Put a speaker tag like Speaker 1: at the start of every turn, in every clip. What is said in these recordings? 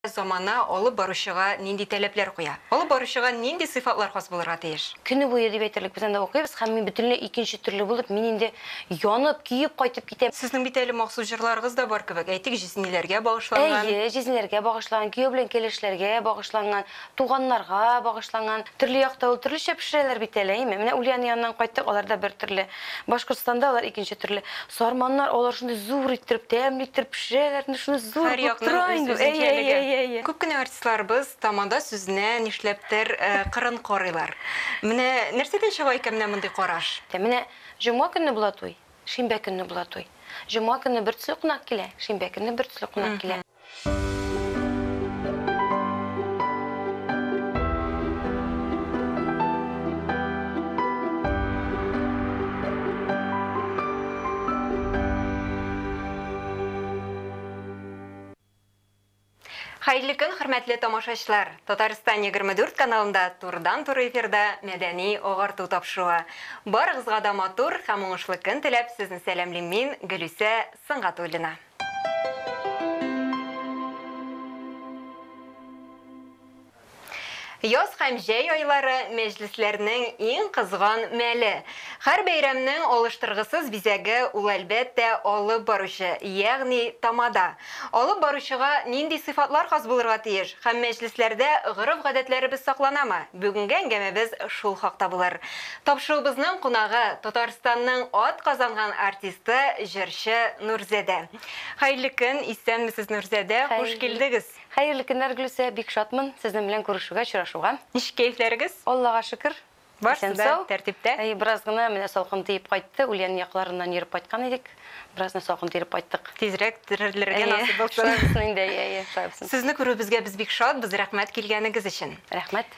Speaker 1: Замана алып баручыга нинди таләпләр куя? Алып баручыга нинди сыйфатлар хас булырга тиеш? Көне буе, дип әйтерлек,
Speaker 2: без анда укыйбыз һәм мин бөтенләй икенче төрле булып, мин инде янып, көеп кайтып китәм. Сезнең бит әле махсус
Speaker 1: җырларыгыз да бар кебек, әйтик, җизниләргә багышланган. Әйе, җизниләргә
Speaker 2: багышланган, кияү белән кәләшләргә багышланган. Туганнарга багышланган. Төрле якта ул төрлечә пешерәләр бит әле, әйеме? Менә Ульяна яныннан кайттык, аларда бер төрле. Башкортстанда алар икенче төрле. Сарманнар, алар шундый зур иттереп, тәмле иттереп пешерәләр, ну шундый зур Һәр булып якның тора үз инде. Әйе, әйе, үзенчәлеге. әйе, әйе. Күп кенә артистларыбыз
Speaker 1: тамада сүзенә, нишләптер, кырын карыйлар. Менә нәрсәдән чыга икән менә мондый караш? Менә җомга
Speaker 2: көнне була туй, шимбә көнне була туй. Җомга көнне бертөсле кунак килә, шимбә көнне бертөсле кунак килә.
Speaker 1: Хәерле көн, хөрмәтле тамашачылар! Татарстан 24 каналында турыдан-туры эфирда мәдәни агарту тапшыруы. Барыгызга да матур һәм уңышлы көн теләп, сезне сәламлим мин, Гөлүсә Сынгатуллина. Яз һәм җәй айлары, мәҗлесләрнең иң кызган мәле. Һәр бәйрәмнең алыштыргысыз бизәге ул, әлбәттә, алып баручы, ягъни тамада. Алып баручыга нинди сыйфатлар хас булырга тиеш һәм мәҗлесләрдә гореф-гадәтләребез сакланамы? Бүгенге әңгәмәбез шул хакта булыр. Тапшыруыбызның кунагы, Татарстанның ат казанган артисты, җырчы Нурзәдә. Хәерле көн, исәнмесез Нурзәдә, хуш килдегез. Хәерле көннәр Гөлүсә,
Speaker 2: бик шатмын сезнең белән күрешүгә, очрашуга. Ничек кәефләрегез?
Speaker 1: Аллага шөкер,
Speaker 2: исән сау.
Speaker 1: Әйе, бераз гына менә
Speaker 2: салкын тиеп кайтты, Ульян якларыннан йөреп кайткан идек, бераз гына салкын тиеп кайттык. Тизрәк терелергә
Speaker 1: насыйп булсын. Әйе, шулай булсын инде, әйе, әйе, шулай булсын. Сезне күрүебезгә без бик шатбыз, рәхмәт килгәнегез өчен. Рәхмәт.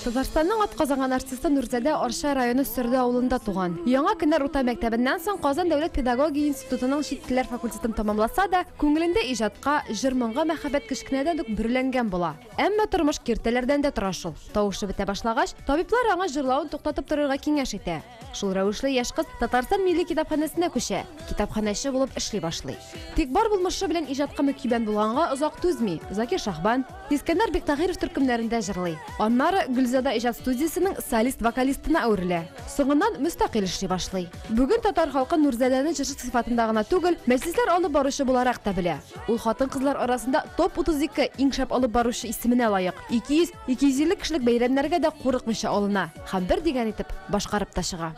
Speaker 3: Татарстанның атказанган артисты Нурзадә Арча районы Сөрде авылында туган. Яңа Кенәр урта мәктәбеннән соң Казан дәүләт педагогия институтының чит телләр факультетын тәмамласа да, күңелендә иҗатка, җыр-моңга мәхәббәт кечкенәдән үк бөреләнгән була. Әмма тормыш киртәләрдән дә тора шул. Тавышы бетә башлагач, табиблар аңа җырлавын туктатып торырга киңәш итә. Шул рәвешле яшь кыз Татарстан милли китапханәсенә күчә, китапханәче булып эшли башлый. Тик бар булмышы белән иҗатка мөкибән булганга озак түзми, Закир Шахбан, Искәндәр Биктагыйров төркемнәрендә җырлый. Аннары Гөлзада иҗат студиясенең солист-вокалистына әверелә. Соңыннан мөстәкыйль эшли башлый. Бүген татар халкы Нурзадәне җырчы сыйфатында гына түгел, мәҗлесләр алып баручы буларак та белә. Ул хатын-кызлар арасында топ-32 иң шәп алып баручы исеменә лаек, 200 250 кешелек бәйрәмнәргә дә курыкмыйча алына һәм бер дигән итеп башкарып та чыга.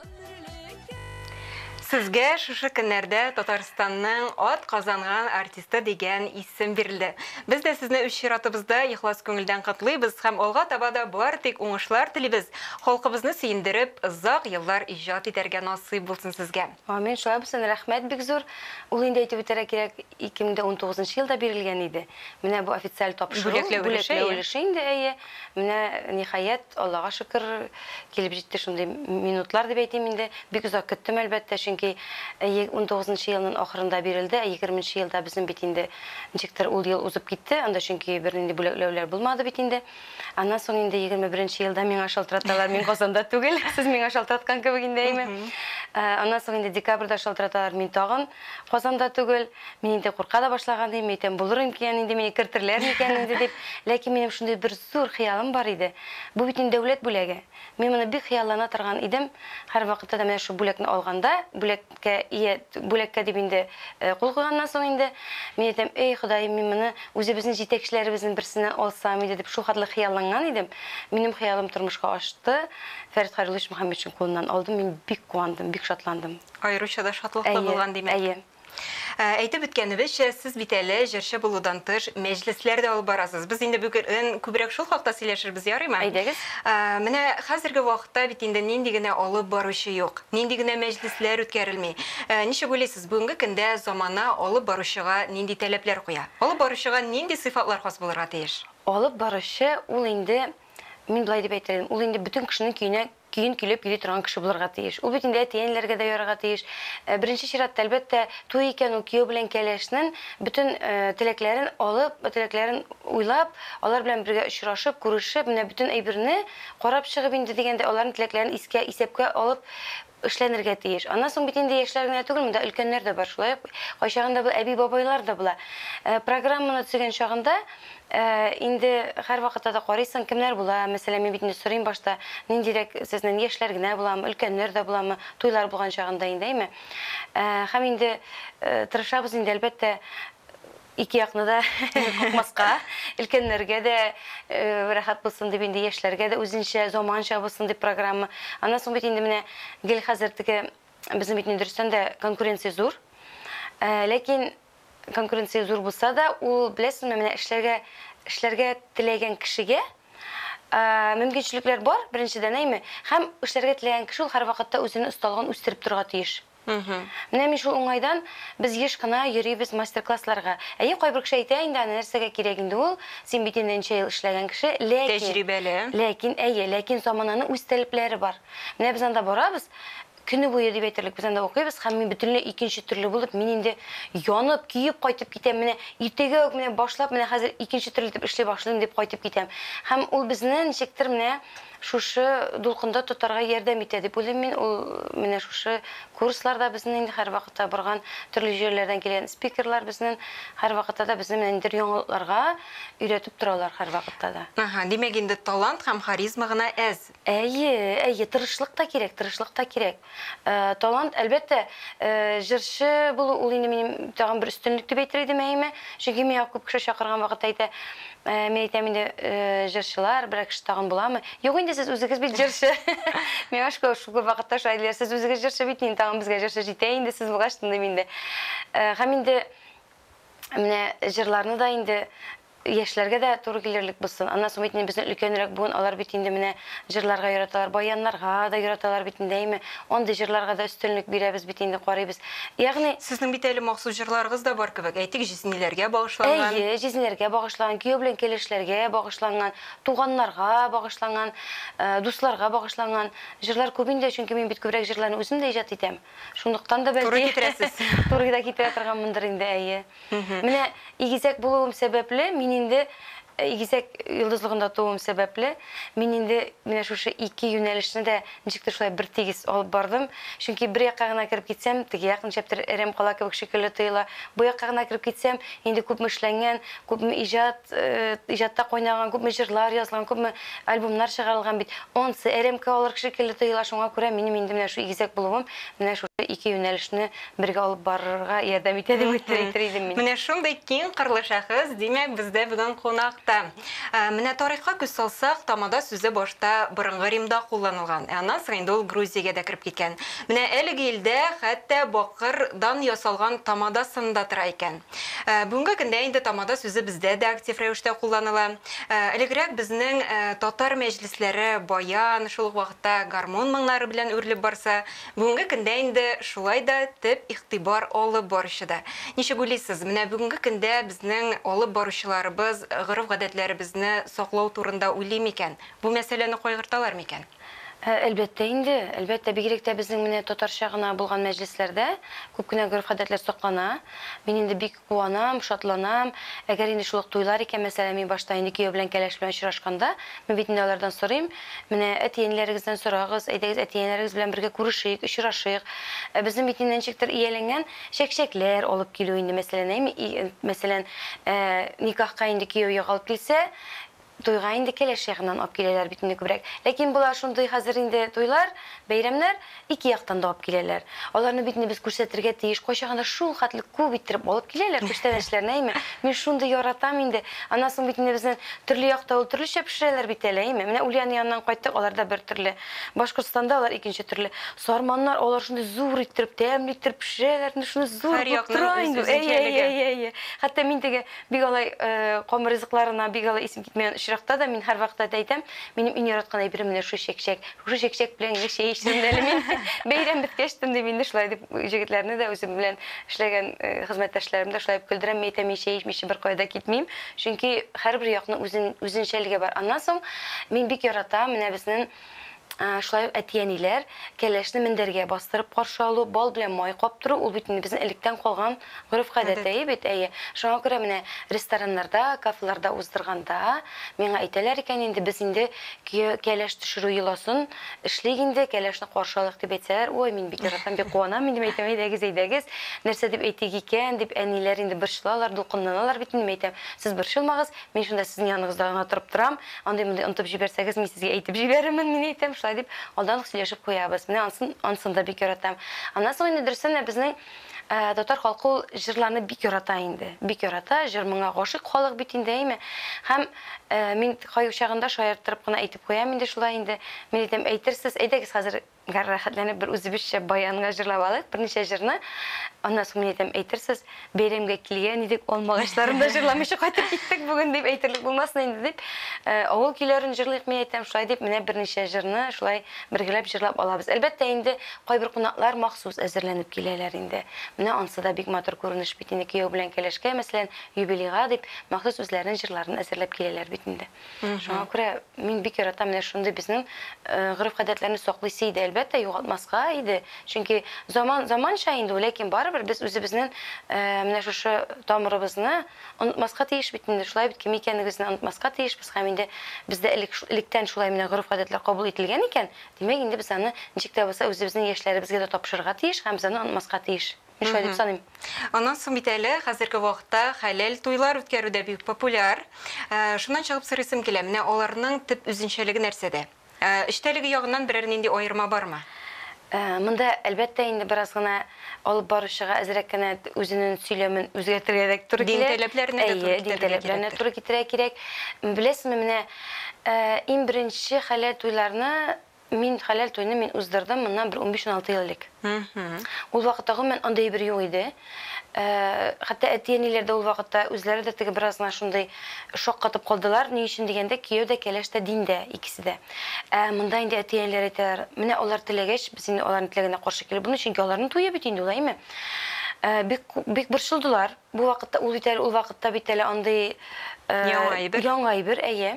Speaker 1: Сезгә шушы көннәрдә Татарстанның ат казанган артисты дигән исем бирелде. Без дә сезне үз чиратыбызда ихлас күңелдән котлыйбыз һәм алга таба да бары тик уңышлар телибез, халкыбызны сөендереп, озак еллар иҗат итәргә насыйп булсын сезгә! Амин, шулай булсын,
Speaker 2: рәхмәт бик зур. Ул инде әйтеп үтәргә кирәк, 2019 елда бирелгән иде. Менә бу официаль тапшыру, Бүләкләү өлеше, бүләкләү әйе. өлеше инде, әйе. Менә, ниһаять, Аллага шөкер, килеп җитте шундый минутлар дип әйтим инде. Бик озак көттем, әлбәттә, чөнки әйе, унтугызынчы елнын ахырында бирелде, ә егерменче елда безнен бит инде ничектер ул ел узып китте, анда чөнки бернинди бүләкләүләр булмады бит инде. Аннан соң инде 21 елда миңа шалтыраталар, мин Казанда түгел, сез миңа шалтыраткан кебек инде әйме. Ә, аннан соң инде декабрьдә шалтыраталар, мин тагын Казанда түгел, мин инде курка да башлаган идем, әйтәм, булыр икән инде мине кертерләр микән инде дип. Ләкин минем шундый бер зур хыялым бар иде. Бу бит инде дәүләт бүләге. Мин моны бик хыяллана торган идем. Һәрвакытта да менә шул бүләкне алганда, бүләк Бүләккә ия, бүләккә дип инде кул куйганнан соң инде, мин әйтәм, әй, Ходаем, мин моны үзебезнең җитәкчеләребезнең берсеннән алсам иде, дип шулхәтле хыялланган идем. Минем хыялым тормышка ашты, Фәрит Хәйруллович Мөхәммәтшин кулыннан алдым, мин бик куандым, бик шатландым. Аеруча да шатлыклы
Speaker 1: булган, димәк. Әйе, әйе.
Speaker 2: Әйтеп
Speaker 1: үткәнебезчә, сез бит әле җырчы булудан тыш, мәҗлесләр дә алып барасыз. Без инде бүген күбрәк шул хакта сөйләшербез, ярыймы? Әйдәгез.
Speaker 2: Менә
Speaker 1: хәзерге вакытта бит инде нинди генә алып баручы юк. Нинди генә мәҗлесләр үткәрелми. Ничек уйлыйсыз, бүгенге көндә замана алып баручыга нинди таләпләр куя? Алып баручыга
Speaker 2: нинди
Speaker 1: сыйфатлар хас
Speaker 2: булырга
Speaker 1: тиеш? Алып
Speaker 2: баручы,
Speaker 1: ул инде, мин
Speaker 2: болай дип әйтер идем, ул инде бөтен кешенең көенә көен көйләп йөри торган кеше булырга тиеш. Ул бит инде әти-әниләргә дә ярарга тиеш. Беренче чиратта, әлбәттә, туй икән, ул кияү белән кәләшнен бөтен теләкләрен алып, теләкләрен уйлап, алар белән бергә очрашып, күрешеп, менә бөтен әйберне Карап чыгып инде дигәндә аларның теләкләрен искә, исәпкә алып эшләнергә тиеш. Аннан соң бит инде яшьләр генә түгел, монда өлкәннәр дә бар. Шулай ук кайчагында бу әби-бабайлар да була. Программаны төзегән чагында инде һәрвакытта да карыйсың, кемнәр була, мәсәлән, мин бит инде сорыйм башта, ниндирәк сезнен, яшьләр генә буламы, өлкәннәр дә буламы, туйлар булган чагында инде, әйме. Һәм инде тырышабыз инде, әлбәттә, Ике якны да куркмаска, өлкәннәргә дә рәхәт булсын дип, инде яшьләргә дә үзенчә, заманча булсын дип программа. Аннан соң бит инде менә гел хәзер теге безнең бит дөрестән дә конкуренция зур. Ләкин конкуренция зур булса да, ул беләсезме, менә эшләргә эшләргә теләгән кешегә мөмкинчелекләр бар, беренчедән әйме, һәм эшләргә теләгән кеше ул һәрвакытта үзенең осталыгын үстереп торырга тиеш. Мхм. Менә мин шул уңайдан, без еш кына йөрибез мастер-классларга. Әйе, кайбер кеше әйтә инде, аны нәрсәгә кирәк инде ул, син бит инде нче ел эшләгән кеше, ләкин, Тәҗрибәле. ләкин, әйе, ләкин замананың үз таләпләре бар. Менә без анда барабыз, көне буе дип әйтерлек без анда укыйбыз һәм мин бөтенләй икенче төрле булып, мин инде янып, көеп кайтып китәм, менә иртәгә үк менә башлап, менә хәзер икенче төрле итеп эшли башлыйм дип кайтып китәм. Һәм ул безне ничектер менә Шушы дулкында тотарга ярдәм итә дип уйлыйм мин ул менә шушы курсларда безнен инде һәрвакытта барган төрле җирләрдән килгән спикерлар безнен һәрвакытта да безне менә ниндидер яңалыкларга өйрәтеп торалар һәрвакытта да. Аһа, димәк инде талант
Speaker 1: һәм харизма гына әз. Әйе, әйе,
Speaker 2: тырышлык та кирәк, тырышлык та кирәк. Талант, әлбәттә, җырчы булу ул инде минем тагын бер өстенлек дип әйтер идем, әйеме? Чөнки миңа күп кеше чакырган вакытта әйтә, мин әйтәм инде, җырчылар, берәр кеше тагын буламы? Юк инде, сез үзегез бит җырчы. Миңа шулай шул күп вакытта шулай диләр, сез үзегез җырчы бит, инде тагын безгә җырчы җитә инде, сез булгач тындым инде. Һәм инде менә җырларны да инде Яшьләргә дә туры килерлек булсын. Аннан соң бит инде бездән өлкәнрәк буын, алар бит инде менә җырларга яраталар, баяннарга да яраталар бит инде, әйме? Андый җырларга да өстенлек бирәбез бит инде, карыйбыз. Ягъни. Сезнең бит әле махсус
Speaker 1: җырларыгыз да бар кебек, әйтик, җизниләргә багышланган. Әйе, җизниләргә
Speaker 2: багышланган, кияү белән кәләшләргә багышланган, туганнарга багышланган, дусларга багышланган җырлар күп инде, чөнки мин бит күбрәк җырларны үзем дә иҗат итәм. Шунлыктан да бәлки. Туры китерәсез.
Speaker 1: Туры да китерә
Speaker 2: торганмындыр инде, әйе. Менә игезәк булуым сәбәпле, мин инде игезәк йолдызлыгында тууым сәбәпле, мин инде менә шушы ике юнәлешне дә ничектер шулай бертигез алып бардым. Чөнки бер якка гына кереп китсәм, теге як ничәптер әрәм кала кебек шикелле тоела. Бу якка гына кереп китсәм, инде күпме эшләнгән, күпме иҗат, иҗатта кайнаган, күпме җырлар язылган, күпме альбомнар чыгарылган бит. Ансы әрәмкә алыр шикелле тоела, шуңа күрә минем инде менә шул игезәк булуым менә шушы ике юнәлешне бергә алып барырга ярдәм итә дип әйтер әйтер идем мин. Менә шундый киң кырлы
Speaker 1: шәхес, димәк, бездә бүген кунакта. Ә, Менә тарихка күз салсак, тамада сүзе башта борынгы Римда кулланылган, ә аннан соң инде ул Грузиягә дә кереп киткән. Менә әлеге илдә хәтта бакыр дан ясалган тамада сыны да тора икән. Ә, Бүгенге көндә инде тамада сүзе бездә дә актив рәвештә кулланыла. Ә, Элегрәк безнең ә, татар мәҗлесләре баян, шул ук вакытта гармун моңнары белән үрелеп барса, Бүгенге көндә инде шулай да төп игътибар алып баручыда. Ничек уйлыйсыз, менә бүгенге көндә безнең алып баручыларыбыз гореф-гадәтләребезне саклау турында уйлый микән, бу мәсьәләне кайгырталар микән? Әлбәттә
Speaker 2: инде, әлбәттә, бигрәк тә безнең менә татарча гына булган мәҗлесләрдә күп кенә гореф-гадәтләр саклана. Мин инде бик Куанам, шатланам. Әгәр инде шул ук туйлар икән, мәсәлән, мин башта инде кияү белән кәләш белән очрашканда, мин бит инде алардан сорыйм, Менә әти-әниләрегездән сорагыз, әйдәгез, әти-әниләрегез белән бергә күрешик, очрашыйк. Ә безнең бит инде ничектер ияләнгән, чәкчәкләр алып килү инде, мәсәлән, әйме, мәсәлән, ә, никахка инде кияү ягалып килсә, Туйга инде кәләш ягыннан алып киләләр бит инде күбрәк. Ләкин болар шундый хәзер инде туйлар, бәйрәмнәр ике яктан да алып киләләр. Аларны бит инде без күрсәтергә тиеш. Кайчагын да шул хәтле күп иттереп алып киләләр күчтәнәчләрне, әйме. Мин шундый яратам инде. Аннан соң бит инде безнең төрле якта ул төрлечә пешерәләр бит әле, әйме. Менә Ульяна яныннан кайттык, аларда бер төрле. Башкортстанда алар икенче төрле. Сарманнар, алар шундый зур иттереп, тәмле иттереп пешерәләр инде, шуны зур булып тора инде. Әйе, әйе, әйе. Хәтта мин теге Бик алай ком ризыкларына бик алай исем китмәгән очракта да мин һәрвакытта да әйтәм, минем иң яраткан әйберем менә шушы чәкчәк. Шушы чәкчәк белән генә чәй эчтем дә әле мин. Бәйрәм беткәч тә инде мин дә шулай дип җегетләрне дә, үзем белән эшләгән хезмәттәшләремне дә шулай дип көлдерәм. Мин әйтәм, мин чәй эчмичә беркая да китмим. Чөнки һәрбер якның үзен, үзенчәлеге бар. Аннан соң мин бик яратам менә безнең Шулай ук әти-әниләр, кәләшне мендәргә бастырып каршы алу, бал белән май каптыру, ул бит инде безнең электән калган гореф-гадәт, әйе бит? Әйе. Шуңа күрә менә рестораннарда, кафеларда уздырганда, миңа әйтәләр икән инде, без инде көя кәләш төшерү йоласын эшлик инде, кәләшне каршы алыйк дип әйтсәләр, ой, мин бик яратам, бик куанам инде, мин әйтәм, әйдәгез, әйдәгез, нәрсә дип әйтик икән, дип әниләр инде борчылалар, дулкынланалар бит инде, мин әйтәм, сез борчылмагыз, Мин шунда сезнең яныңызда гына торып торам, андый-мондый онытып җибәрсәгез, мин сезгә әйтеп җибәрермен, мин әйтәм, шулай дип, алдан ук сөйләшеп куябыз. Менә ансын, ансын да бик яратам. Аннан соң инде дөрестән дә безнең татар халкы ул җырларны бик ярата инде. Бик ярата, җыр моңа гашыйк халык бит инде, әйме? Һәм мин кайчагында шаярттырып кына әйтеп куям инде шулай инде. Мин әйтәм, әйтерсез, әйдәгез хәзер Гар рәхәтләнеп бер үзебезчә баянга җырлап алыйк, берничә җырны. Аннан соң мин әйтәм, әйтерсез, бәйрәмгә килгән идек, алма агачларын да җырламыйча кайтып киттек бүген, дип әйтерлек булмасын инде дип, авыл көйләрен җырлыйк, мин әйтәм, шулай дип, менә берничә җырны шулай бергәләп җырлап алабыз. Әлбәттә инде, кайбер кунаклар махсус әзерләнеп киләләр инде. Менә ансы да бик матур күренеш бит инде, кияү белән кәләшкә, мәсәлән, юбилейга дип, махсус үзләренең җырларын әзерләп киләләр бит инде. Шуңа күрә мин бик яратам менә шундый безнең гореф-гадәтләрне саклыйсы иде, әлбәттә, югалтмаска иде. Чөнки заман заманча инде, ләкин барыбер без үзебезнең менә шушы тамырыбызны онытмаска тиеш бит инде. Шулай бит, кем икәнегезне онытмаска тиешбез һәм инде бездә элек электән шулай менә гореф-гадәтләр кабул ителгән икән, димәк, инде без аны ничек тә булса үзебезнең яшьләребезгә дә тапшырырга тиеш һәм без аны онытмаска тиеш. Мин шулай дип саныйм. Аннан соң бит әле
Speaker 1: хәзерге вакытта хәләл туйлар үткәрү дә бик популяр. Шуннан чыгып сорыйсым килә, менә аларның төп үзенчәлеге нәрсәдә? Эчтәлеге ягыннан берәр нинди аерма бармы? Монда,
Speaker 2: әлбәттә, инде бераз гына алып баручыга әзрәк кенә үзенең сөйләмен үзгәртергә дә туры килә. Дин таләпләренә дә туры китерергә кирәк. Әйе, дин таләпләренә туры китерергә кирәк. Беләсезме, менә иң беренче хәләл туйларны Мин хәләл туйны мин уздырдым моннан бер унбиш-уналты ел элек. Ул вакытта гомумән андый әйбер юк иде. Хәтта әти-әниләр дә ул вакытта үзләре дә теге бераз гына шундый шаккатып калдылар, ни өчен дигәндә, кияү дә, кәләш тә диндә, икесе дә. Ә монда инде әти-әниләр әйтәләр, менә алар теләгәч, без инде аларның теләгенә каршы килеп булмый, чөнки аларның туе бит инде ул, әйеме? Бик, бик борчылдылар. Бу вакытта ул бит әле, ул вакытта бит әле андый Яңа әйбер. Яңа әйбер, әйе.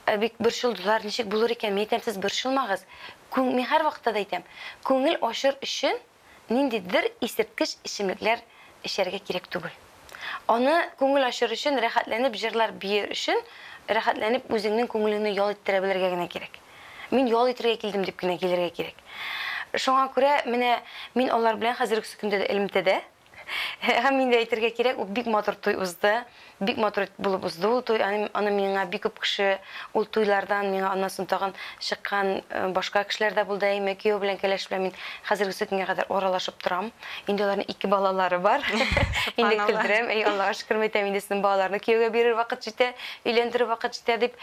Speaker 2: Ә бик борчылдылар, ничек булыр икән, мин әйтәм, сез борчылмагыз, күң, мин һәрвакытта да әйтәм, күңел ачыр өчен ниндидер исерткеч эчемлекләр эчәргә кирәк түгел. Аны күңел ачыр өчен, рәхәтләнеп җырлар биер өчен, рәхәтләнеп үзеңнең күңелеңне ял иттерә белергә генә кирәк. Мин ял итергә килдем дип кенә килергә кирәк. Шуңа күрә менә мин алар белән хәзерге көндә дә элемтәдә. Һәм инде әйтергә кирәк, ул бик матур туй узды. Бик матур булып узды ул туй. Аны, аны миңа бик күп кеше ул туйлардан миңа аннан соң тагын чыккан э, башка кешеләр дә булды. Әйме, кияү белән кәләш белән мин хәзергесе көнгә кадәр аралашып торам. Инде аларның ике балалары бар. инде көлдерәм. Әй, Аллага шөкер мәйтәм, инде сезнең балаларны кияүгә бирер вакыт җитә, өйләндерер вакыт җитә дип.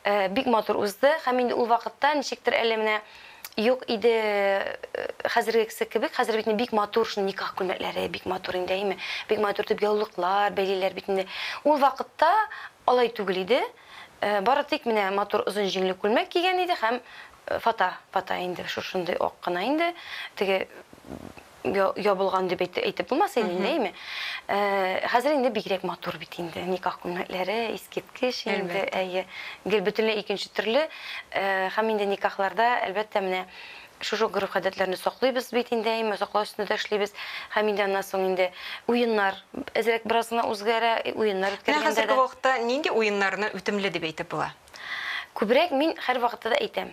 Speaker 2: Э, бик матур узды. Һәм инде ул вакытта ничектер әле менә Юк иде хәзергекесе кебек, хәзер бит инде бик матур шундый никах күлмәкләре, бик матур инде, әйеме? Бик матур итеп яулыклар бәйлиләр бит инде. Ул вакытта алай түгел иде. Бары тик менә матур озын җиңле күлмәк кигән иде һәм фата, фата инде шушындый ак кына инде, теге, ябылган дип әйтеп булмас инде инде әйме. Хәзер инде бигрәк матур бит инде никах күлмәкләре, искиткеч инде, әйе. Гел бөтенләй икенче төрле. Һәм инде никахларда, әлбәттә, менә шушы гореф-гадәтләрне саклыйбыз бит инде әйме, саклау өстендә дә эшлибез. Һәм инде аннан соң инде уеннар әзрәк бераз гына үзгәрә, уеннар үткәргәндә дә. Менә хәзерге вакытта нинди
Speaker 1: уеннарны үтемле дип әйтеп була? Күбрәк
Speaker 2: мин һәрвакытта да әйтәм,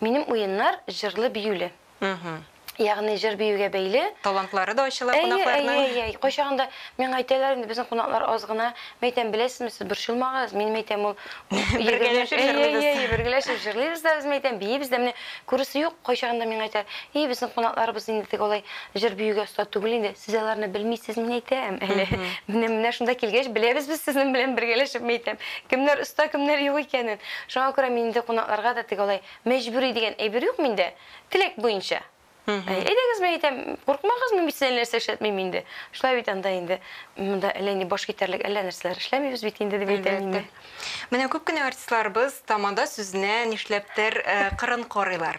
Speaker 2: минем уеннар җырлы-биюле. Мхм. Ягъни җыр-биюгә бәйле. Талантлары да ачыла
Speaker 1: Әйе, кунакларның. әйе, әйе, әйе. Кайчагында
Speaker 2: миңа әйтәләр инде, безнең кунаклар аз гына. Мин әйтәм, беләсезме, сез борчылмагыз, минем әйтәм ул Бергәләшеп Әйе, җырлыйбыз. әйе, әйе, бергәләшеп җырлыйбыз да, үзем әйтәм, биибез дә. Менә күрәсе юк, кайчагында миңа әйтәләр, И, безнең кунакларыбыз инде теге алай җыр-биюгә оста түгел инде, сез аларны белмисез, мин әйтәм әле. Менә, менә шунда килгәч, беләбез без сезнең белән бергәләшеп, мин әйтәм, кемнәр оста, кемнәр юк икәнен. Шуңа күрә мин инде кунакларга да теге алай Мәҗбүри дигән әйбер юк миндә, теләк буенча. Әни, әйдәгез, мин әйтәм, куркмагыз, мин бит сезгә әллә нәрсә эшләтмим инде. Шулай бит анда инде, монда әллә ни баш китәрлек әллә нәрсәләр эшләмибез бит инде, дип әйтә мине. Әлбәттә. Менә күп кенә
Speaker 1: артистларыбыз тамада сүзенә нишләптер кырын карыйлар.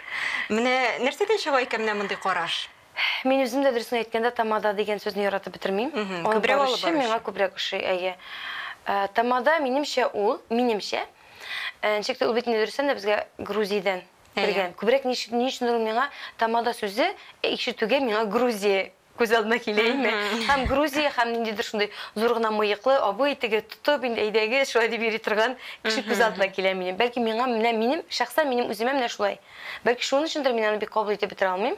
Speaker 1: Менә нәрсәдән чыга икән менә мондый караш? Мин үзем дә
Speaker 2: дөресен әйткәндә тамада дигән сүзне яратып бетермим. Күбрәк алып баручы. Миңа
Speaker 1: күбрәк ошый, әйе.
Speaker 2: Э, тамада минемчә ул, минемчә, э, ничек тә ул бит инде дөрестән дә безгә Грузиядән кергән. Күбрәк ни өчендер ул миңа тамада сүзе э, ишетүгә миңа Грузия күз алдына килә име. Һәм Грузия һәм ниндидер шундый зур гына мыеклы абый теге тотып инде әйдәгез шулай дип йөри торган кеше күз алдына килә минем. Бәлки миңа менә минем шәхсән минем үземә менә шулай. Бәлки шуның өчендер мин аны бик кабул итеп бетерә алмыйм.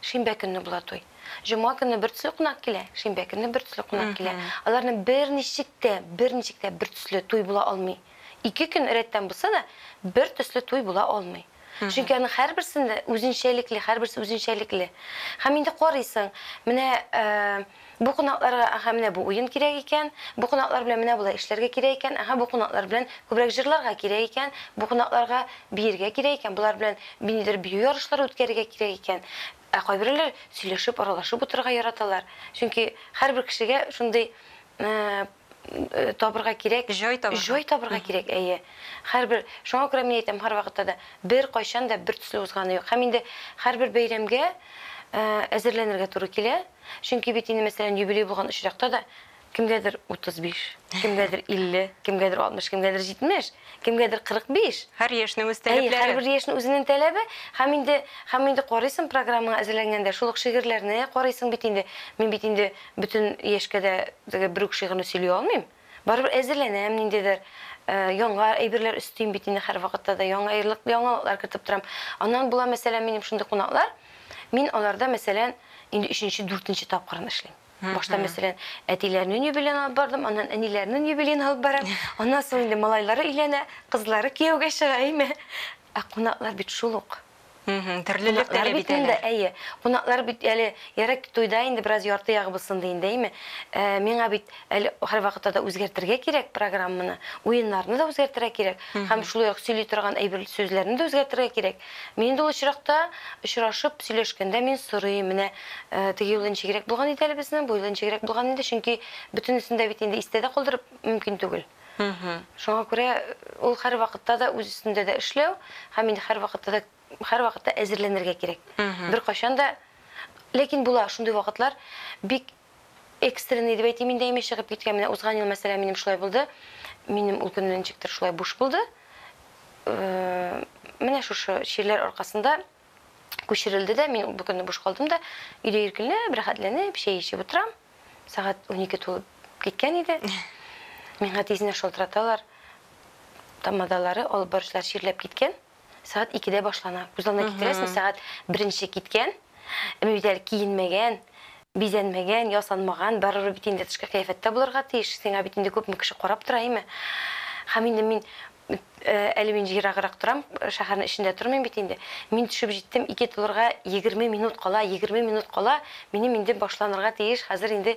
Speaker 2: Шимбә көнне була туй. Җома көнне бертөсле кунак килә, шимбә көнне бертөсле кунак килә. Аларның берничек тә, берничек тә бертөсле туй була алмый. Ике көн рәттән булса да, бертөсле туй була алмый. Чөнки аның һәрберсендә үзенчәлекле, һәрберсе үзенчәлекле. Һәм инде карыйсың, менә, Бу кунакларга, әһә, менә бу уен кирәк икән, бу кунаклар белән менә болай эшләргә кирәк икән, әһә, бу кунаклар белән күбрәк җырларга кирәк икән, бу кунакларга биергә кирәк икән, болар белән ниндидер бию ярышлары үткәрергә кирәк икән. Ә кайберәүләр сөйләшеп, аралашып утырырга яраталар. Чөнки һәрбер кешегә шундый, ә-ә-ә. табырга кирәк. Җай табырга. Җай табырга кирәк, әйе. Һәрбер, шуңа күрә мин әйтәм, һәрвакытта да беркайчан да бертөсле узганы юк. Һәм инде һәрбер бәйрәмгә әзерләнергә туры килә. Чөнки бит инде, мәсәлән, юбилей булган очракта да кемгәдер 35, кемгәдер 50, кемгәдер 60, кемгәдер 70, кемгәдер 45. Һәр яшьнең үз тәләпләре.
Speaker 1: Әйе, һәрбер яшьнең үзенең
Speaker 2: тәләбе. Һәм инде, һәм инде карыйсың программаңа әзерләнгәндә, шул ук шигырьләрне карыйсың бит инде. Мин бит инде Бөтен яшькә дә теге бер үк шигырьне сөйли алмыйм. Барыбер әзерләнәм, ниндидер яңа әйберләр өстим бит инде һәрвакытта да, яңа ярлык, яңалыклар кертеп торам. Аннан була, мәсәлән, минем шундый кунаклар, мин аларда, мәсәлән, инде өченче, дүртенче тапкырын эшлим. Башта, мәсәлән, әтиләрнен юбилеен алып бардым, аннан әниләрнен юбилеен алып барам, аннан соң инде малайлары өйләнә, кызлары кияүгә чыга, әйме? Ә кунаклар бит шул ук. Мхм, төрлелек
Speaker 1: теләп бит әле. Әйе, кунаклар
Speaker 2: бит әле ярый туйда инде бераз ярты ягыбыз сынды инде, әйме? Э, миңа бит әле һәрвакытта да үзгәртергә кирәк программаны, уеннарны да үзгәртергә кирәк, һәм шулай ук сөйли торган әйбер сүзләрне дә үзгәртергә кирәк. Мин инде ул очракта очрашып сөйләшкәндә мин сорыйм, менә э, теге юлы ничегрәк булган иде әле безнең, бу юлы ничегрәк булган иде, чөнки бөтенесен дә бит инде истә дә калдырып мөмкин түгел. Шуңа күрә ул һәрвакытта да үз өстендә дә эшләү һәм инде һәрвакытта да һәрвакытта әзерләнергә кирәк. Беркайчан да ләкин була шундый вакытлар бик экстренный дип әйтим инде әйме чыгып киткән менә узган ел мәсәлән минем шулай булды. Минем ул көнне ничектер шулай буш булды. Менә шушы чирләр аркасында күчерелде дә, мин бу көнне буш калдым да, өйдә иркенләп, рәхәтләнеп, чәй эчеп утырам. Сәгать унике тулып киткән иде. Миңа тизенә шалтыраталар. Тамадалары, алып баручылар чирләп киткән. Сәгать икедә башлана. Күз алдына китерәсең, сәгать беренче киткән. Мин бит әле киенмәгән, бизәнмәгән, ясанмаган. Барыбер бит инде тышкы кыяфәттә булырга тиеш. Сиңа бит инде күпме кеше карап тора, әйме? Һәм инде мин Әле мин ераграк торам, шәһәрнең эчендә тормыйм бит инде. Мин төшеп җиттем, ике тулырга егерме минут кала, егерме минут кала, минем инде башланырга тиеш, хәзер инде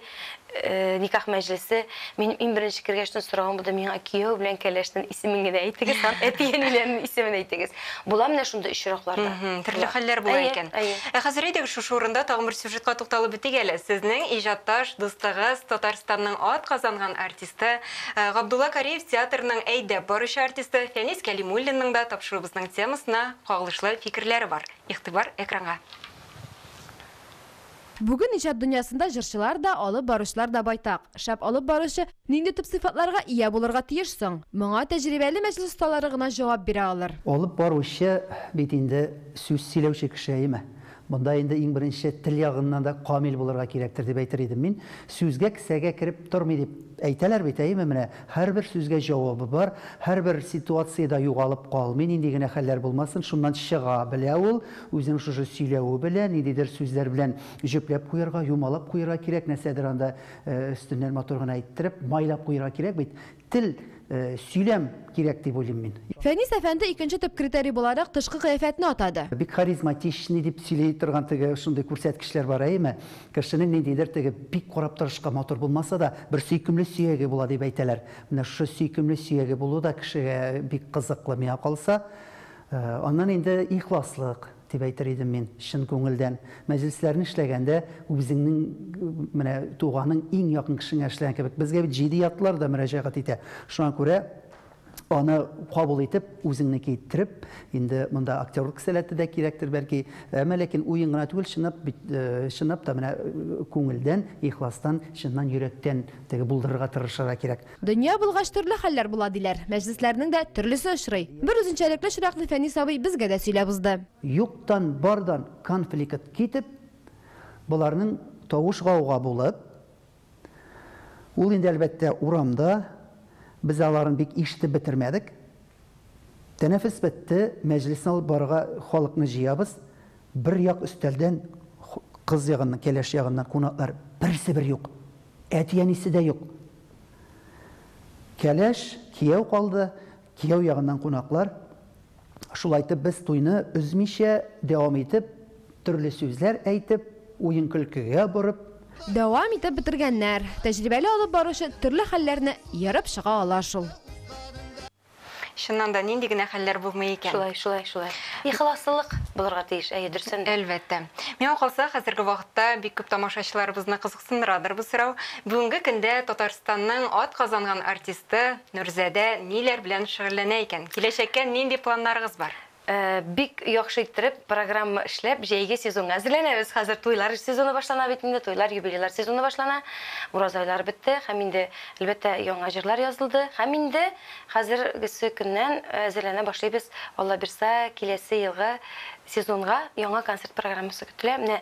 Speaker 2: никах мәҗлесе. Минем иң беренче кергәчтен сораган булды, миңа кияү белән кәләшнең исемен генә әйтегез һәм әти-әниләрнең исемен әйтегез. Була менә шундый очракларда. Төрле хәлләр була
Speaker 1: икән. Ә хәзер әйдәгез шушы урында тагын бер сюжетка тукталып үтик әле. Сезнең иҗатташ дустыгыз, Татарстанның атказанган артисты Габдулла Кариев театрның әйдәп баручы артисты Фәнис Кәлимуллинның да тапшыруыбызның темасына кагылышлы фикерләре бар. Игътибар экранга.
Speaker 3: Бүген иҗат дөньясында җырчылар да, алып баручылар да байтак. Шәп алып баручы нинди төп сыйфатларга ия булырга тиеш соң? Моңа тәҗрибәле мәҗлес осталары гына җавап бирә алыр. Алып баручы
Speaker 4: бит инде сүз сөйләүче кеше, әйеме? Монда инде иң беренче тел ягыннан да камил булырга кирәктер дип әйтер идем мин. Сүзгә кесәгә кереп тормый дип әйтәләр бит, әйеме? Менә һәрбер сүзгә җавабы бар, һәрбер ситуациядә югалып калмый, нинди генә хәлләр булмасын, шуннан чыга белә ул, үзенең шушы сөйләве белән, ниндидер сүзләр белән җөпләп куярга, юмалап куярга кирәк, нәрсәдер анда өстеннән матур гына әйттереп, майлап куярга кирәк бит. Тел, сөйләм кирәк дип уйлыйм мин. Фәнис әфәнде икенче
Speaker 3: төп критерий буларак тышкы кыяфәтне атады. Бик харизматичный
Speaker 4: дип сөйли торган теге шундый күрсәткечләр бар, әйеме? Кешенең ниндидер теге бик карап торышка матур булмаса да, бер сөйкемле сөяге була дип әйтәләр. Менә шушы сөйкемле сөяге булу да кешегә бик кызыклы, миңа калса. Аннан инде ихласлык. Дип әйтер идем мин, чын күңелдән. Мәҗлесләрне эшләгәндә, үзеңнең, менә туганың, иң якын кешеңә эшләгән кебек. Безгә бит җидиатлылар да мөрәҗәгать итә. Шуңа күрә аны кабул итеп, үзеңнеке иттереп, инде монда актерлык сәләте дә кирәктер, бәлки. Әмма ләкин уен гына түгел, чынлап бит, чынлап та менә күңелдән, ихластан, чыннан йөрәктән теге булдырырга тырышырга кирәк. Дөнья булгач, төрле
Speaker 3: хәлләр була, диләр. Мәҗлесләрнең дә төрлесе очрый. Бер үзенчәлекле очракны Фәнис абый безгә дә сөйләп узды. Юктан
Speaker 4: бардан конфликт китеп, боларның тавыш-гауга булып, ул инде, әлбәттә, урамда, без аларын бик ишетеп бетермәдек. Тәнәфес бетте, мәҗлесне алып барырга халыкны җыябыз. Бер як өстәлдән кыз ягыннан, кәләш ягыннан кунаклар берсе-бер юк. Әти-әнисе дә юк. Кәләш, кияү калды, кияү ягыннан кунаклар. Шулай итеп, без туйны өзмичә дәвам итеп, төрле сүзләр әйтеп, уен-көлкегә борып. Дәвам итеп
Speaker 3: бетергәннәр. Тәҗрибәле алып баручы төрле хәлләрне ерып чыга ала шул.
Speaker 1: Чыннан да нинди генә хәлләр булмый икән. Шулай, шулай, шулай.
Speaker 2: Ихласлылык булырга тиеш, әйе, дөресен. Әлбәттә. Миңа
Speaker 1: калса, хәзерге вакытта бик күп тамашачыларыбызны кызыксындырадыр бу сорау. Бүгенге көндә Татарстанның ат казанган артисты Нурзадә ниләр белән шөгыльләнә икән? Киләчәккә нинди планнарыгыз бар? Бик
Speaker 2: яхшы иттереп программа эшләп, җәйге сезонга әзерләнәбез. Хәзер туйлар сезоны башлана бит инде, туйлар, юбилейлар сезоны башлана. Ураза айлары бетте һәм инде, әлбәттә, яңа җырлар язылды. Һәм инде хәзергесе көннән әзерләнә башлыйбыз, Аллабирса, киләсе елгы сезонга яңа концерт программасы көтелә. Менә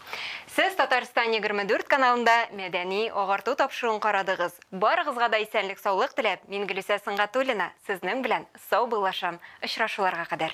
Speaker 1: Сез Татарстан егерме дүрт каналында мәдәни, агарту тапшыруын карадыгыз. Барыгызга да исәнлек-саулык теләп, мин Гөлүсә Сөнгатуллина сезнең белән саубыллашам. Очрашуларга кадәр.